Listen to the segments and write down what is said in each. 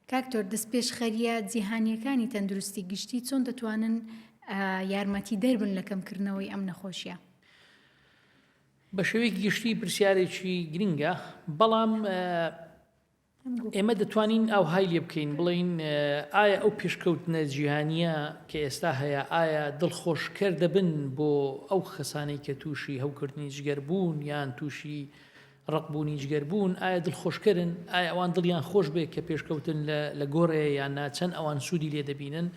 کاک تۆر دەستپێشخەریە جیهانیەکانی تەندروستی گشتی چۆن دەتوانن یارمەتی دەربن لە کەمکردنەوەی ئەم نەخۆشیە؟ بە شێوەیەکی گشتی پرسیارێکی گرنگە بەڵام ئێمە دەتوانین ئەو های لێ بکەین بڵین ئایا ئەو پێشکەوتنە جیهانیە کە ئێستا هەیە ئایا دڵخۆشکەر دەبن بۆ ئەو خەسانەی کە تووشی هەوکردنی جگەر بوون یان تووشی ڕەق بوون و جگەر بوون ئایا دڵخۆشکەرن؟ ئایا ئەوان دڵیان خۆش بێت کە پێشکەوتن لە گۆڕێ یان نا چەند ئەوان سوودی لێ دەبینن؟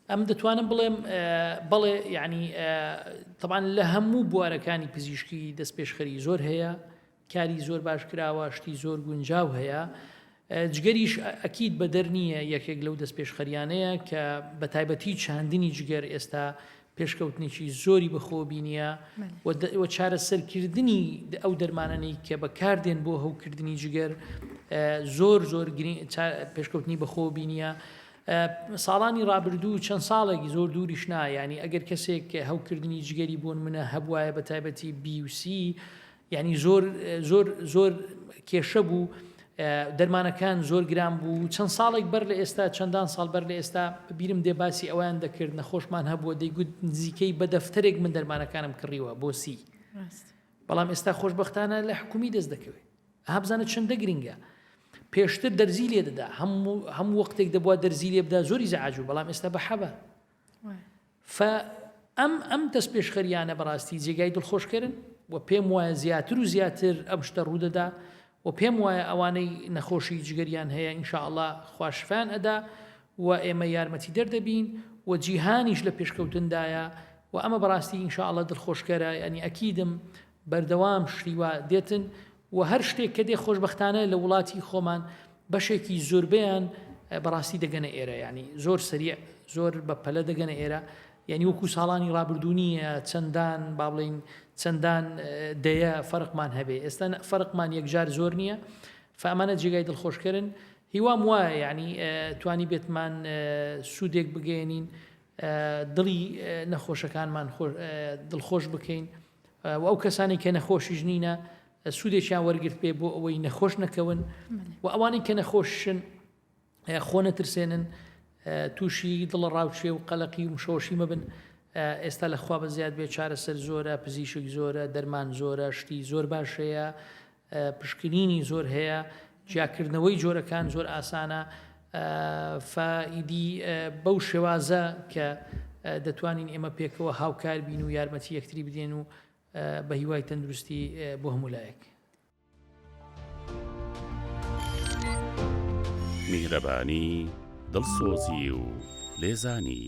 ئەم دەتوانم بڵێم بەڵێ یعنی تەبان لە هەموو بوارەکانی پزیشکی دەست پێشخەری زۆر هەیە کاری زۆر باش کراوە شتی زۆر گونجاو هەیە جگەریش ئەکید بەدەر نییە یەکێک لەو دەستپێشخەریانەیە کە بەتایبەتی چاندنی جگەر ئێستا پێشکەوتنێکی زۆری بەخۆ بینیە و چارەسەرکردنی ئەو دەرمانەی کە بەکاردێن بۆ هەوکردنی جگەر زۆر زۆر پێشکەوتنی بەخۆ بینیە ساڵانی ڕابردوو چەند ساڵێک زۆر دووریش نایانی ئەگەر کەسێک هەوکردنی جگەری بۆن منە هەبواە بە تایبەتی بیوسی یانی زۆر زۆر زۆر کێشە بوو دەرمانەکان زۆر گران بوو چەند ساڵێک بەر لە ئێستا چەندان ساڵ بەر لە ئێستا بیرم دێ باسی ئەویان دەکرد نەخۆشمان هەبووە دەیگوت نزیکەی بە دەفتەرێک من دەرمانەکانم کڕیوە بۆ سی بەڵام ئێستا خۆشببختانە لە حکومی دەست دەکەوێت هابزانە چنددە گرنگە پێشتر دەرزی لێ دەدا هەموو هەموو وەختێک دەبووە دەرزی لێ بدا زۆری زەعاجو بەڵام ئێستا بە حەبە فە ئەم ئەم دەستپێشخەرییانە بەڕاستی جێگای دڵخۆشکەرن و پێم وایە زیاتر و زیاتر ئەم شتە ڕوودەدا و پێم وایە ئەوانەی نەخۆشی جگەریان هەیە ئینشاءاللە خوا شفایان ئەدا و ئێمە یارمەتی دەر دەبین و جیهانیش لە پێشکەوتندایە و ئەمە بەڕاستی ئینشاءاللە دڵخۆشکەرە یانی ئەکیدم بەردەوام شتی وا دێتن و هەر شتێک کە دێ خۆشبەختانە لە وڵاتی خۆمان بەشێکی زۆربەیان بەڕاستی دەگەنە ئێرە ینی زۆر سریع زۆر بە پەلە دەگەنە ئێرە یعنی وەکو ساڵانی ڕابردوونیە چەندان با بڵین چەندان دەیە فەرقمان هەبێ ئێستا فەرقمان یەکجار زۆر نییە فامانە جێگای دڵخۆشکردن هیوام وایە یعنی توانی بێتمان سوودێک بگەێنین دڵی نەخۆشەکانمان دڵخۆش بکەین. و ئەو کەسانەی کە نەخۆشیش نینە سوودێکیان وەرگرت پێ بۆ ئەوەی نەخۆش نەکەون و ئەوانەی کە نەخۆشن خۆ نەترسێنن تووشی دڵە ڕاوچێ و قەلەقی و مشۆشی مەبن ئێستا لە خوا بە زیاد بێ چارەسەر زۆرە پزیشک زۆرە دەرمان زۆرە شتی زۆر باشەیە پشکنینی زۆر هەیە جیاکردنەوەی جۆرەکان زۆر ئاسانە فە ئیدی بەو شێوازە کە دەتوانین ئێمە پێکەوە هاوکار بین و یارمەتی یەکتری بدێن و بە هیوای تەندروستی بۆ هەموو لایەک میهرەبانی دڵسۆزی و لێزانی